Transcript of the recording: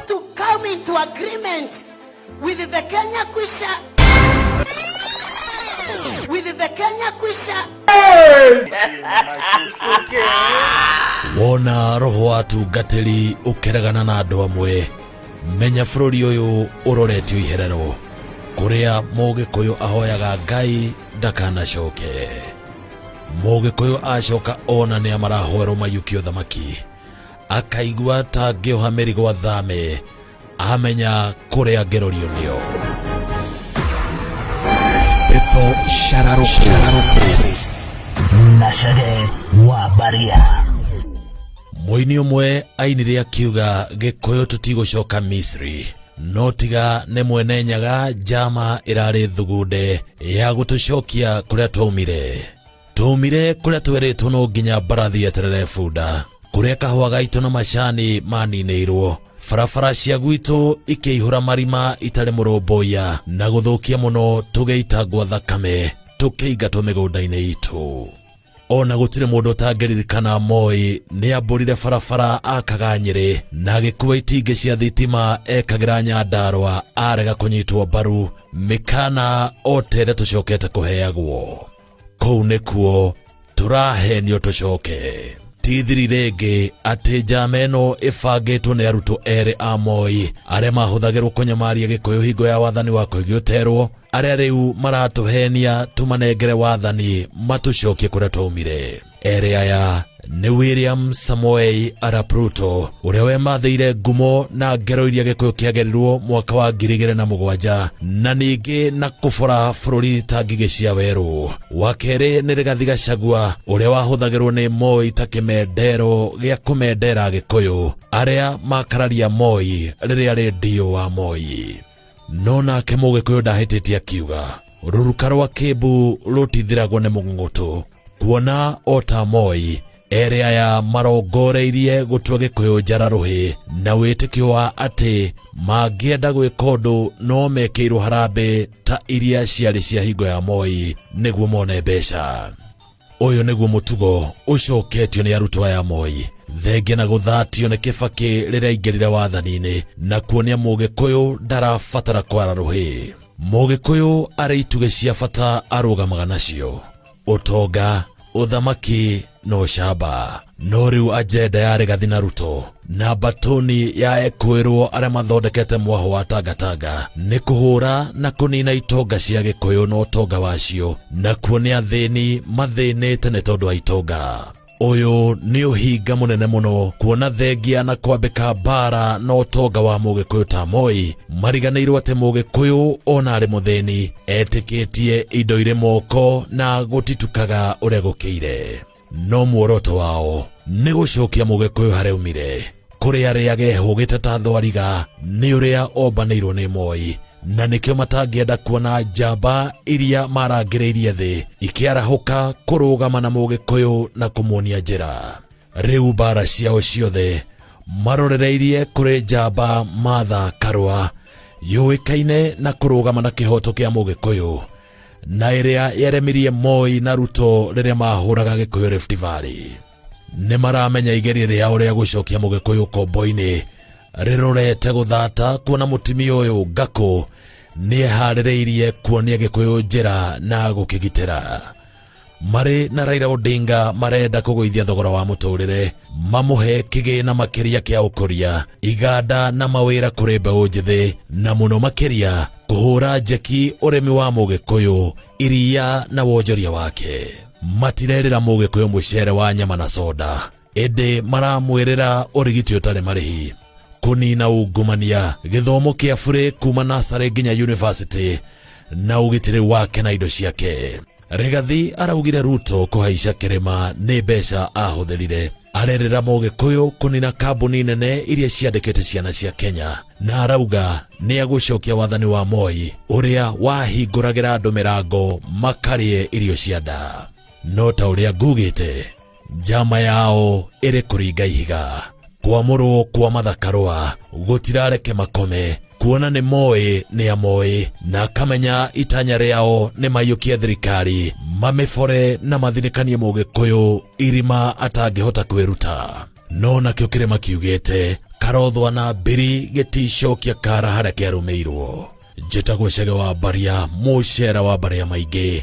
to come into agreement with the Kenya Kwisha with the Kenya Kwisha wona roho wa atungatĩri ũkeregana na andũ amwe menya bũrũri ũyũ ũroretio iherero kũrĩa mũgĩkũyũ ahoyaga ngai ndakanacoke mũgĩkũyũ acoka ona nĩ amarahoerwo mayũkie ũthamaki akaigua ta ngĩoha mĩrigo athame amenya kũrĩa ngerorio nĩo Pepo Shararuku na Shage wa Baria. mũini ũmwe ainire akiuga gĩkũyũ tũtigũcoka misri no tiga nĩ mwene nyaga njama ĩrarĩ thugunde ya gũtũcokia kũrĩa twaumire twaumire kũrĩa twerĩtwo no nginya mbarathi eterere bunda kũrĩa kahũa gaitũ na macani maninĩirwo barabara cia gwitũ ikĩihũra marima itarĩ mũrũmbũiya na gũthũkia mũno tũgĩitangwo thakame tũkĩingatwo mĩgũnda-inĩ itũ ona gũtirĩ mũndũ ũtangĩririkana moĩ nĩ ambũrire barabara akaga nyĩrĩ na agĩkua itingĩ cia thitima ekagĩra nyandarwa arega kũnyitwo mbaru mĩkana o ta ĩrĩa tũcokete kũheagwo kũu nĩkuo tũrahenio tũcoke tithiri rĩngĩ atĩ njama ĩno ĩbangĩtwo nĩ arutwo erĩ a moi arĩa mahũthagĩrwo kũnyamaria gĩkũyũ hingo ya wathani wa kũigioterwo arĩa rĩu maratũhenia tũmanengere wathani matũcokie kũrĩa twaumire erĩ aya nĩ william samoei arap ruto ũrĩa wemathĩire ngumo na ngero iria gĩkũyũ kĩagerirwo mwaka wa ngiri igĩrĩ na mũgwanja na ningĩ na kũbora bũrũri ta ngigĩ cia werũ wa kerĩ nĩ rĩgathi gacagua ũrĩa wahũthagĩrwo nĩ moi ta kĩmendero gĩa kũmendera gĩkũyũ arĩa makararia moi rĩrĩa rĩ ndio wa moi no nake mũgĩkũyũ ndahĩtĩtie akiuga rũruka rwa kĩmbu rũtithiragwo nĩ mũng'ũtũ kuona o ta moi erĩ aya marongoreirie gũtua gĩkũyũ njara rũhĩ na wĩtĩkio wa atĩ mangĩenda gwĩka ũndũ no mekĩirwo harambĩ ta iria ciarĩ cia hingo ya moi nĩguo mone mbeca ũyũ nĩguo mũtugo ũcoketio nĩ arutwo aya moi thenge na gũthatio nĩ kĩbakĩ rĩrĩa aingĩrire wathani-inĩ na kuonia mũgĩkũyũ ndarabatara kwara rũhĩ mũgĩkũyũ arĩ itugĩ cia bata arũgamaga nacio ũtonga ũthamaki na ũcamba no rĩu ajenda ya regathi na ruto na mbatũni ya ekwĩrwo arĩa mathondekete mwaho wa tangatanga nĩ kũhũra na kũnina itonga cia gĩkũyũ na ũtonga wacio nakuo nĩ athĩni mathĩnĩte nĩ tondũ wa itonga ũyũ nĩ ũhinga mũnene mũno kuona thengia na kwambĩka mbara na ũtonga wa mũgĩkũyũ ta moi mariganĩirwo atĩ mũgĩkũyũ ona arĩ mũthĩni etĩkĩtie indo irĩ moko na gũtitukaga ũrĩa gũkĩire no muoroto wao nĩ gũcokia mũgĩkũyũ harĩa umire kũrĩa rĩage hũgĩte ta thwariga nĩ ũrĩa ombanĩirwo nĩ moi na nĩkĩo matangĩenda kuona njamba iria marangĩrĩirie thĩ ikĩarahũka kũrũgama na mũgĩkũyũ na kũmuonia njĩra rĩu mbara ciao ciothe marorereirie kũrĩ njamba matha karũa yũĩkaine na kũrũgama na kĩhoto kĩa mũgĩkũyũ na ĩrĩa yeremirie Moi na Ruto rĩrĩa mahũraga Gĩkũyũ Rift Valley nĩ maramenya igeria rĩao rĩa gũcokia mũgĩkũyũ kombo-inĩ rĩrorete gũthata kuona mũtumia ũyũ ngakũ nĩeharĩrĩirie kuonia gĩkũyũ njĩra na gũkĩgitĩra marĩ na Raila Odinga marenda kũgũithia thogora wa mũtũrĩre mamũhe kĩgĩna makĩria kĩa ũkũria iganda na mawĩra kũrĩ mbeũ njĩthĩ na mũno makĩria kũhũra njeki ũrĩmi wa mũgĩkũyũ iria na wonjoria wake matirerĩra mũgĩkũyũ mũcere wa nyama na soda ĩndĩ maramwĩrĩra ũrigiti ũtarĩ marĩhi kũnina ungumania gĩthomo kĩa burĩ kuma nasarĩ nginya yunivasĩtĩ na ũgitĩri wake na indo ciake Rigathi araugire Ruto kũhaica kĩrĩma nĩ mbeca ahũthĩrire arerera Mũgĩkũyũ kũnina kambuni nene iria ciandĩkĩte ciana cia Kenya na arauga nĩ agũcokia wathani wa Moi ũrĩa wahingũragĩra andũ mĩrango makarĩe irio cia nda no ta ũrĩa ngugĩte njama yao ĩrĩ kũringa ihiga kwamũrwo kwa mathakarwa gũtirareke makome kuona nĩ moĩ nĩ amoĩ na akamenya itanya rĩao nĩ maiyũkie thirikari mamĩbore na mathinĩkanie mũgĩkũyũ irima atangĩhota kwĩruta no nakĩo kĩrĩma kiugĩte karothwa na mbiri gĩticokia kara harĩa kĩarũmĩirwo njĩtagwo cege wa mbaria mũcera wa mbaria maingĩ